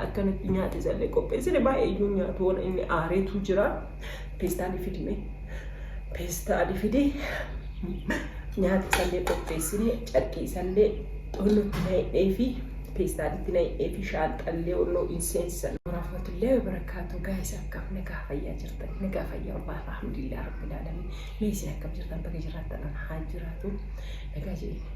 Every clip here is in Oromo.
Akkanatti nyaata isallee qopheessine baay'ee iyyuu nyaatu waan inni aareetu jira. Peestaalii fidime. Peestaalii fidi. Nyaata isallee qopheessine carqii isallee wannutti na hidhee fi peestaalitti na hidhee fi shaalxallee wannoo hin seensisan. Warahmatullahi wabarakatuh guys akkam nagaa fayyaa jirtan nagaa fayyaa wabaa alhamdulillah rabbil alamin mee isin akkam jirtan baga jiraattan an haa jiraatu nagaa jedhee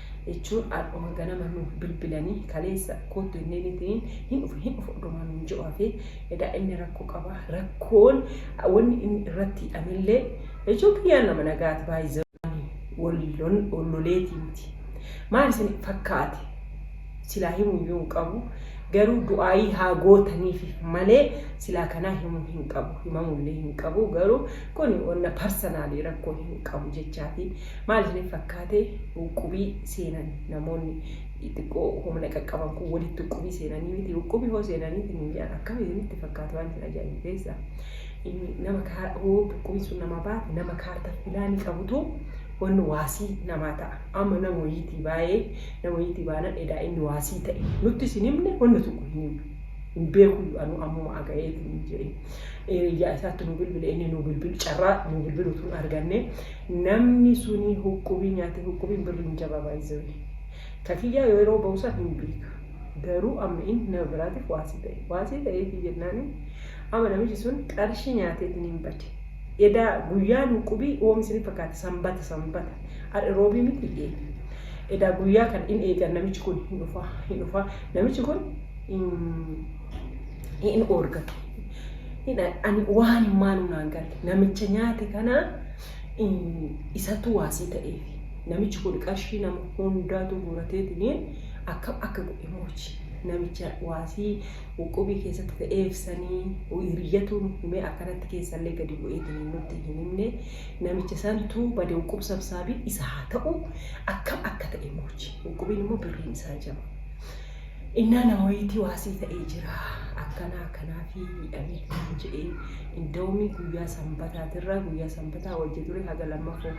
jechuun ardhuma ganama nuuf bilbilanii kaleessa koottu inneen ittiin hin dhufu hin dhufu dhumaa nuun jiru hafee edaa inni rakkoo qaba rakkoon wanni inni irratti hidhamillee jechuun kiyyaan nama nagaati baay'ee wallon olloleetii miti maal isin fakkaate silaa himuu yoo hin qabu garuu du'aayii haa gootaniif malee silaa kanaa himuu hin qabu himamullee hin qabu garuu kun wanna parsanaalii rakkoo hin qabu jechaati Maal isinitti fakkaate uqqubii seenan namoonni xiqqoo humna qaqqaban kun walitti uqqubii seenanii miti uqqubii hoo seenanii isin hin jedhan akkam isinitti fakkaate waan isin ajaa'ibu keessa inni nama kaa hoo uqqubii sun namaa baate nama kaartar pilaanii qabutu wanni waasii namaa ta'a amma nama wayiitii baay'ee nama wayiitii baanan edaa inni waasii ta'e nutti isin himne wanni tokko hin himne hin beekuyyu anuu ammuma aga'eetiin jedhe hiriyyaa isaatti nu bilbile inni nu bilbil carraa nu bilbiluutu hin arganne Namni suni huqqubii nyaate huqqubiin birri hin jabaa by the way ka kiyyaa yeroo bahu san hin beeka garuu amma in nama biraatif waasii ta'e waasii ta'eefi jennaani amma namichi sun qarshii nyaateetin hin bade edaa guyyaan huqqubii oom isinif fakkaate sanbata sanbata ar'i roobii miti ee edaa guyyaa kan in eegan namichi kun hin dhufaa hin dhufaa namichi kun in hin oorgatu. Ani waan hin maanu naan gale namicha nyaate kana isatu waasii ta'eef namichi kun qarshii nama hundaatu guurateetiin akka akka godhe moochi namicha waasii qubii keessatti ta'eef sanii hiriyyatuun himee akkanatti keessallee gadi bu'eetiin nutti hin himne namicha santu bade quub sabsaabii isa haa ta'u akka akka ta'e moochi qubiin immoo birriin isaa jaba. Innaa na wayitii waa sii ta'ee jira akkanaa kanaafii miidhameeti naan jedhee indawumii guyyaa sanbataatirraa guyyaa sanbataa wajja ture haga lammafoo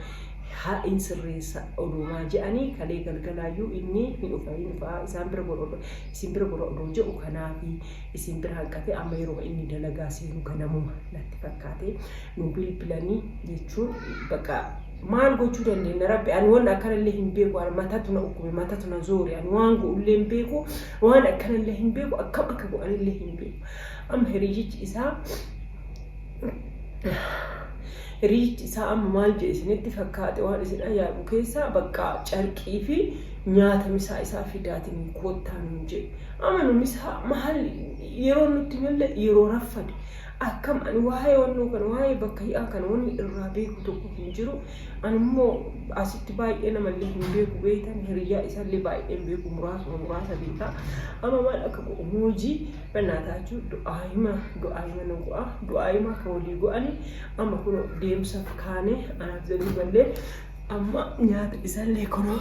ha in sirreessa odoomaa je'anii kalee galgalaayyuu inni hin dhufa hin dhufa isaan bira gora odoo isin bira gora odoo je'u kanaafii isin bira hanqatee amma yeroma inni dalagaa seenu ganamuma natti fakkaatee nu bilbilanii jechuun bakka maal gochuu dandeenya rabbi ani waan akkanallee hin beeku ani matatu na dhukkube matatu na zoore ani waan go'ullee hin beeku waan akkanallee hin beeku akkam akka go'anillee hin beeku amma hiriyichi isaa hiriyichi isaa amma maal jedhe isinitti fakkaate waan isin ayyaanu keessaa bakka carqii fi nyaata misaa isaa fidaatiin koottaa nuun jedhe amma nu misaa maal yeroo nutti malle yeroo raffade Akkam ani waa'ee wannoo kana waa'ee bakka hi'aa kana wanni irraa beeku tokko hin jiru ani immoo asitti baay'ee namallee hin beeku beektan hiriyyaa isallee baay'ee hin beeku muraasuma muraasa beeka amma maal akka godhu moojii bannaa taachuu du'aa hima du'aa hima na go'a du'aa hima akka walii go'ani amma kunoo deemsa kaanee anaaf zabii ballee amma nyaata isallee kunoo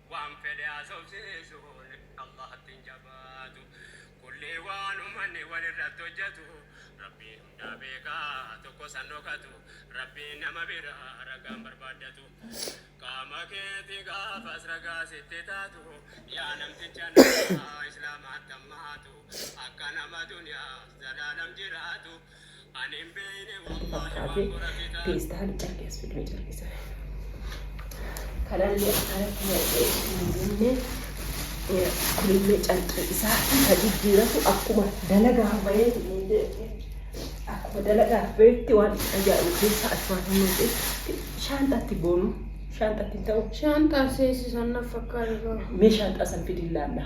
Waan fedhe haasofsiisuun Allaahatti hin jabaatu. Kulli waan ummanni walirratti hojjatu Rabbii hundaa beeka tokkos hin dhokatu. Rabbiin nama bira ragaa hin barbaaddatu. Qaama keetii gaafas ragaa sitti taatu. Yaa namticha namaa Islaamaatti hammaatu. Akka nama duniyaaf zalaalam jiraatu. fakkaate peestaali carqii as fiduu carqii sana kanallee akkanatti naqee namoonni kunillee carqii isaa isa jijjiiratu akkuma dalagaa bahee akkuma dalagaa bahetti waan ajaa'ibu keessa as baafamee shaanxatti boonu shaanxatti hin ta'u Shaanxaa seesisan na fakkaatu. mee shaanxaa san fidii laalla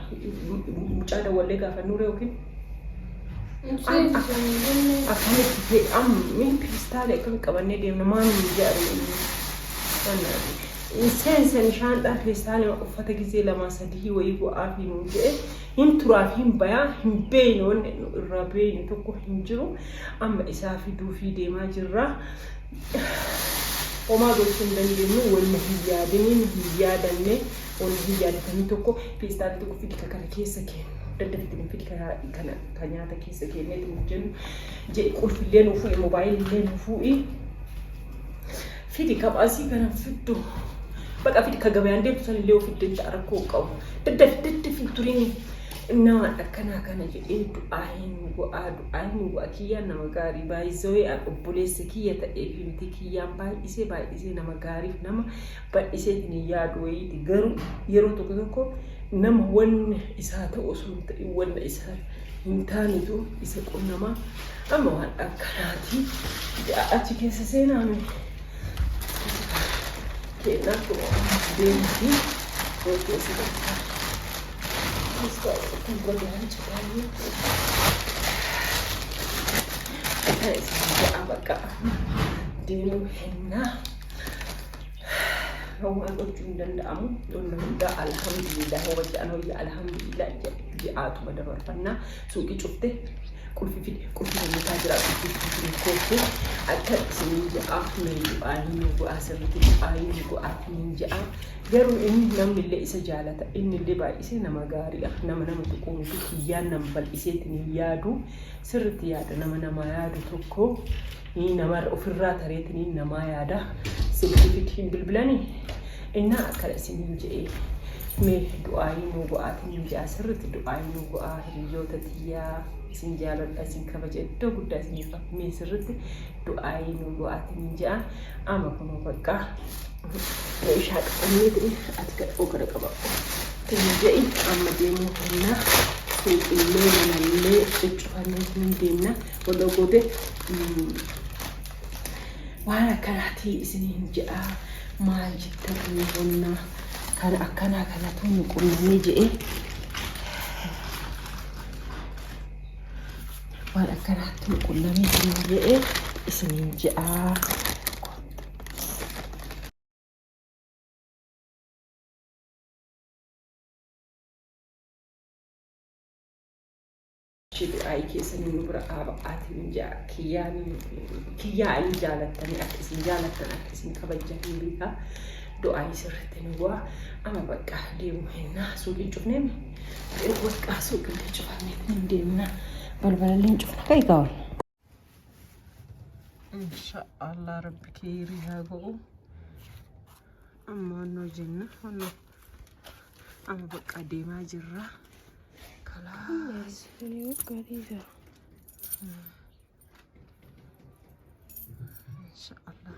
mucaa dawwallee gaafannuure yookiin Akkamitti fe'amu min kiristaala akkamitti qabannee deemna maal nu jedhamu inni seensan shaandhaa keessaa nama uffata gizee lamaa sadii wayii bu'aa fi nu jedhe hin turaa fi hin bayaa hin beeyne wanni nu irraa beeyne tokko hin jiru amma isaa fiduu fi deemaa jirra. Homaa gochuu hin dandeenyu wanni hin yaadiniin hin yaadanne. Olivii yaaddanii tokko feestaalii tokko fidi ka kana keessa keennu. Daddaf itti nuuf fidi ka kana ka nyaata keessa keennee itti nuuf jennu. Jedhi qulfillee nuuf fuudhi moobaayilillee nuuf fuudhi. Fidi ka baasii kana fiddu. Baqa fidi ka gabayaan deemtu sanillee of fidde jecha rakkoo hin qabu. Daddaf daddaf hin turini. Nama akkanaa kana jedhee du'aa hin go'aa du'aa hin go'aa kiyyaan nama gaarii baay'isee obboleessa kiyya ta'ee fi miti kiyyaan baay'isee baay'isee nama gaariif nama Bal'isee itti hin yaadu wayiiti. Garuu yeroo tokko tokko nama wanna isaa ta'u osoo hin ta'in wanna isaa hin taanetu isa qunnama. Amma waan akkanaati. Achi keessa seenaa nuyi. Keenyaa kun deemti. Yoo keessa jirtu. Muska kun godaan citaayee. Kan isin ja'a bakka deemuu hennaa. Homaa gochuu hin danda'amu. Wanna hundaa alhamdulillah hoba jedhan hoyya alhamdulillah ji'aatuma dabarfannaa suuqii cufte qulfi fide qulfi hojjetaa jira qulfi fide fide koottu akka isiniin jedhaa nan du'aa hin bu'aa sirriitti du'aa hin bu'aa isiniin jedhaa garuu inni namni illee isa jaalata inni illee baay'isee nama gaariidha nama nama tokko miti kiyyaan nama bal'iseetiin hin yaadu sirriitti yaada nama namaa yaadu tokko Nii namar ofirraa tareetiniin namaa yaada silkiifitti hin bilbilani innaa akkana isiniin je'ee mee du'aayii nuu go'aatiniin je'a sirritti du'aayii nuu go'aa hiriyyoota tiyyaa isin jaaladha isin kabaja iddoo guddaa isiniif qaba mee sirritti du'aayii nuu go'aatiniin je'a ama kunoo baqqaa meeshaa qabanneetini ati gadhoo kana qaba tini je'i amma deemuu hennaa finqinnee manallee cuccufanneetiniin deemna follow goote waan akkanaatii isiniin jedhaa maal jettan inni bonnaa kan akkanaa kanatu nu qunnamee jedhee waan akkanaatti nu qunnamee isiniin jedhee isiniin jedhaa. Wly keesanii nu bira dhaaba ati miyaa kiyyaa kiyyaa alii jaalattanii akka isin jaalattan akka isin kabajjan hin beekaa du'aayii sirritti nu bu'aa ama baqqaa deemu hennaa suuqiin cufnee mi baqqaa suuqillee cufamne hin deemna balbalallee hin cufna ka'i gaawal inshaallah rabbi keeyrii haa go'u amma wannoo jenna wannoo amma bakka deemaa jirra kalaas inshaallah